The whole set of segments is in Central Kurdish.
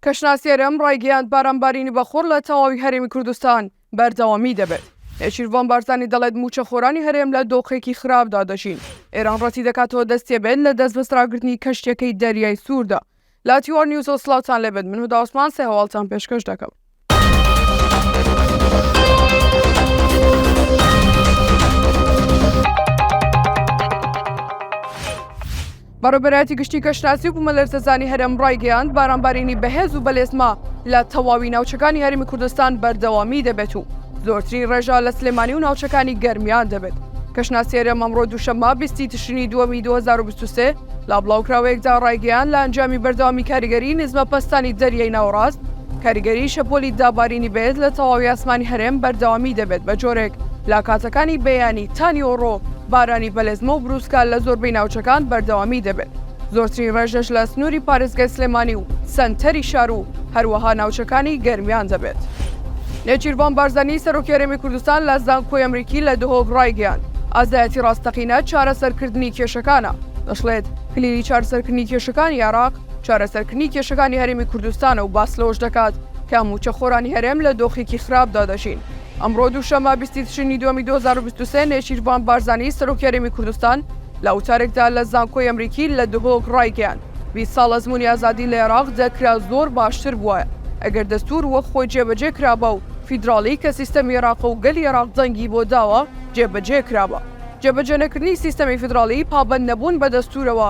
کەشناسی هەرێم ڕایگەیاند، بارانبارینی بەخوڕ لە تەواوی هەرێمی کوردستان بەردەوامی دەبێت. نێچیرڤان بارزانی دەڵێت، مووچەخۆرانی هەرێم لە دۆخێکی خراپدا دەژین. ئێران ڕەتیدەکاتەوە دەستیەبێت لە دەستبەسراگرتنی کەشتییەکەی دەریای سووردا. لاتیوار نیوز و سڵاوتان لێبێت من هودا عوسمان سێ هەواڵتان پێشکەش دەکەم. بەڕێبەرایەتی گشتی کەشناسی و بوومەلەرزەزانی هەرێم ڕایگەیاند بارانبارینی بەهێز و بەلێزما لە تەواوی ناوچەکانی هەرمی کوردستان بەردەوامی دەبێت و زۆرترین ڕێژا لە سلێمانی و ناوچەکانی گەرمیان دەبێت کەشناسی هەرێم ئەمڕۆ دووشەممە بیستی تشرینی دووەمی 2023 لا بڵاوکراوەیەکدا ڕایگەیان لە ئەنجامی بەردەوامی کاریگەری نزمە پەستانی دەریای ناوەڕاست کاریگەریی شەپۆلی دابارینی بەێز لە تەواوی ئاسمانی هەرێم بەردەوامی دەبێت بە جۆرێک لە کاتەکانی بەیانی تا نیوەڕۆ بارانی بەلێزمە و بروسکە لە زۆربەی ناوچەکان بەردەوامی دەبێت زۆرترین ڕێژەش لە سنووری پارێزگای سلێمانی و سەنتەری شار و هەروەها ناوچەکانی گەرمیان دەبێت. نێچیرڤان بارزانی سەرۆکی هەرێمی کوردستان لە زانکۆی ئەمریکی لە دهۆک ڕایگەیاند، ئازایەتی ڕاستەقینە چارەسەرکردنی کێشەکانە، دەشڵێت، کلیلی چارەسەرکردنی کێشەکانی عێراق، چارەسەرکردنی کێشەکانی هەرێمی کوردستانە و باس لەوەش دەکات کە مووچەخۆرانی هەرێم لە دۆخێکی خراپدا دەژین. ئەمڕۆ دووشەممە بیست تشرینی دووەمی دوو هەزار و بیست و سێ نێچیرڤان بارزانی سەرۆکی هەرێمی کوردستان لە وتارێکدا لە زانکۆی ئەمریکی لە دهۆک ڕایگەیاند، بیست ساڵ ئەزموونی ئازادی لە عێراق دەکرا زۆر باشتر بوایە ئەگەر دەستوور وەک خۆی جێبەجێ کرابا و فیدراڵی کە سیستەمی عێراقە و گەلی عێراق دەنگی بۆ داوە جێبەجێ کرابا. جێبەجێنەکردنی سیستەمی فیدراڵی پابەندنەبوون بە دەستوورەوە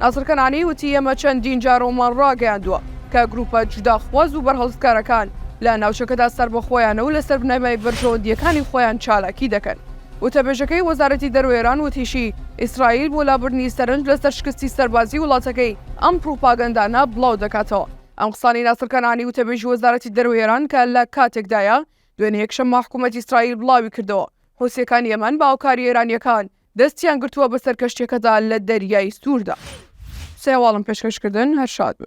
ناسر کەنانی وتی ئێمە چەندین جارەوەمان ڕاگەیاندووە کە گرووپە جوداخواز و بەرهەڵستکارەکان لە ناوچەکەدا سەربەخۆیانە و لەسەر بنەمای بەرژەوەندییەکانی خۆیان چالاکی دەکەن. وتەبێژەکەی وەزارەتی دەرەوەی ئێران وتیشی ئیسرائیل بۆ لابردنی سەرنج لەسەر شکستی سەربازیی وڵاتەکەی ئەم پڕوپاگەندانە بڵاو دەکاتەوە. ئەم قسانەی ناسر کەنانی وتەبێژی وەزارەتی دەرەوەی ئێران کە لە کاتێکدایە دوێنێ یەکشەممە حکوومەتی ئیسرائیل بڵاوی کردەوە حوسییەکان یەمەن بە هاوکاری ئێرانییەکان دەستیان گرتووە بەسەر کەشتیەکەدا لە دەریای سووردا سێواڵم پێشکەشکردن هەر شاد بن.